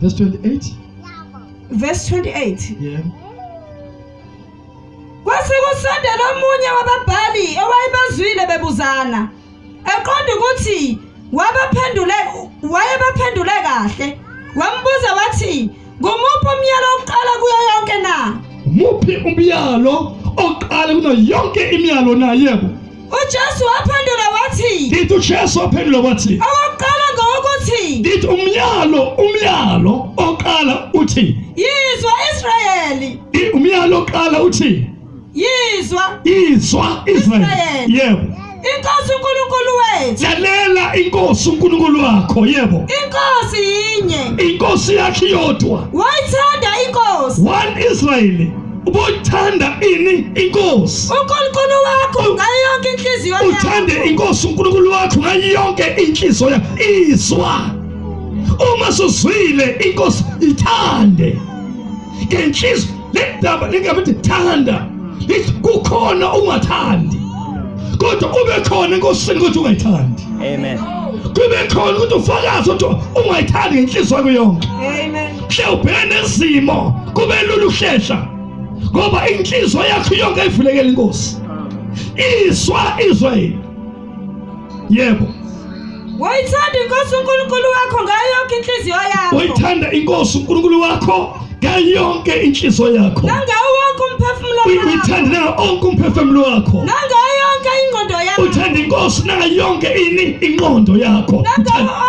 Verse 28. Verse 28. Yeah. Kwase kusondela omunye wababhali owayebazwile bebuzana eqonda ukuthi wabaphendule wayebaphendule kahle wambuza wathi ngumuphi umyalo oqala kuyo yonke na umuphi umyalo oqala kuno yonke imyalo na yebo uJesu waphendula wathi ndithi uJesu waphendula wathi owokuqala ngowokuthi ndithi umyalo umyalo oqala uthi yizwa Israyeli umyalo oqala uthi yizwa yizwa Israyeli yebo inkosi uNkulunkulu wethu lalela inkosi uNkulunkulu wakho yebo inkosi yinye inkosi yakhe yodwa wayithanda inkosi one Israyeli uboyithanda ini inkosi uNkulunkulu wakho ngayo yonke inhliziyo yakho uthande inkosi uNkulunkulu wakho ngayo yonke inhliziyo yakho izwa uma suzwile inkosi ithande ngenhliziyo lendaba lingabe ithanda lithi kukhona ungathandi kodwa kube khona enkosini ukuthi ungayithandi amen kube khona ukuthi ufakaze ukuthi ungayithandi ngenhliziyo yakho yonke amen Mhlawubheka nezimo kube lula uhlehla ngoba inhliziyo yakho yonke ivulekela inkosi. Izwa izwa yini? Yebo. Wayithanda inkosi uNkulunkulu wakho ngayo yonke inhliziyo yakho. Wayithanda inkosi uNkulunkulu wakho ngayo yonke inhliziyo yakho. Nangawo wonke umphefumulo wakho. Uyithanda nawo onke umphefumulo wakho. Nangayo yonke ingqondo yakho. Uthanda inkosi nayo yonke ini ingqondo yakho. Nangawo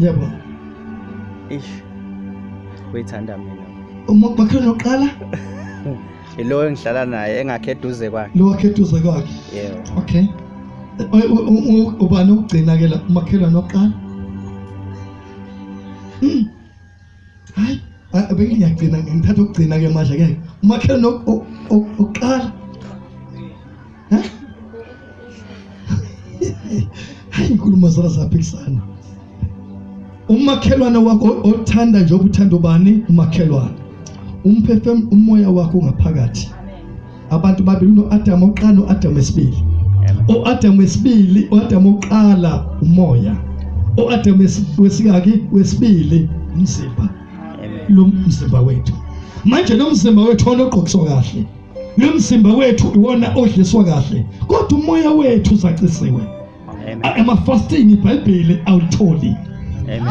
yebo ish uyithanda mina uma bakhe noqala lo engihlala naye engakhe eduze kwakhe lo wakhe eduze kwakhe yebo okay ubani ukugcina ke la umakhelwane oqala hmm. hayi bengiyagcina ngithatha ukugcina ke manje ke umakhelwane oqala hayi inkulumo zona zaphikisana umakhelwane wakho othanda njengoba uthanda ubani umakhelwane umphefemulo umoya wakho ngaphakathi abantu babili unoAdam oqala noAdam wesibili uAdam wesibili uAdam oqala umoya uAdam wesikaki wesibili umzimba lo mzimba wethu manje lo mzimba wethu onogqokiswa kahle lo mzimba wethu iwona odliswa kahle kodwa umoya wethu uzacisiwe Amafasting iBhayibheli awutholi.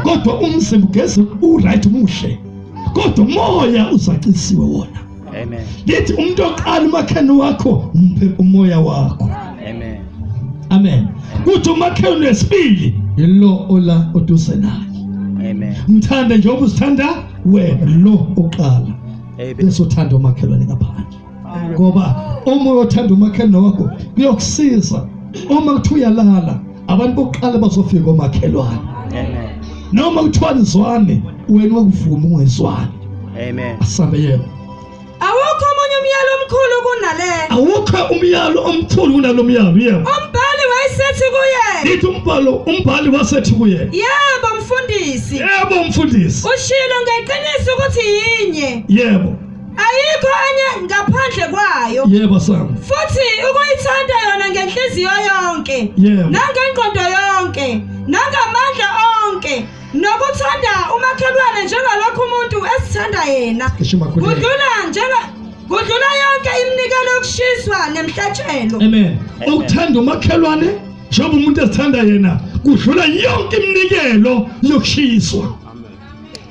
Kodwa umzimba ugeze uright umuhle. Kodwa umoya usacisiwe wona. Amen. Lithi umuntu oqala umakhani wakho umphe umoya wakho. Amen. Amen. Kuthi umakhani wesibili yilo ola oduze naye. Amen. Mthande njengoba usithanda wena lo oqala. Amen. Bese uthanda umakhelwane ngaphandle. ngoba uma uyothanda umakhelwane wakho kuyokusiza uma kuthi uyalala abantu bokuqala bazofika omakhelwane noma kuthiwa nizwane wena wakuvuma ungezwani amen asambe yebo awukho omunye umyalo omkhulu kunale awukho umyalo omkhulu kunalo myalo yebo umbhali wayesethi kuye lithi umbhalo umbhali wasethi kuye yebo mfundisi yebo mfundisi ushilo ngeqiniso ukuthi yinye yebo ayikho enye ngaphandle kwayo yebo sami futhi ukuyithanda yona ngenhliziyo yonke yebo nangengqondo yonke nangamandla onke nokuthanda umakhelwane njengalokho umuntu esithanda yena kudlula njenga kudlula yonke iminikelo yokushiswa nemhlatshelo amen ukuthanda umakhelwane njengoba umuntu esithanda yena kudlula yonke iminikelo yokushiswa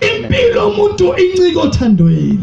impilo umuntu incika othandweni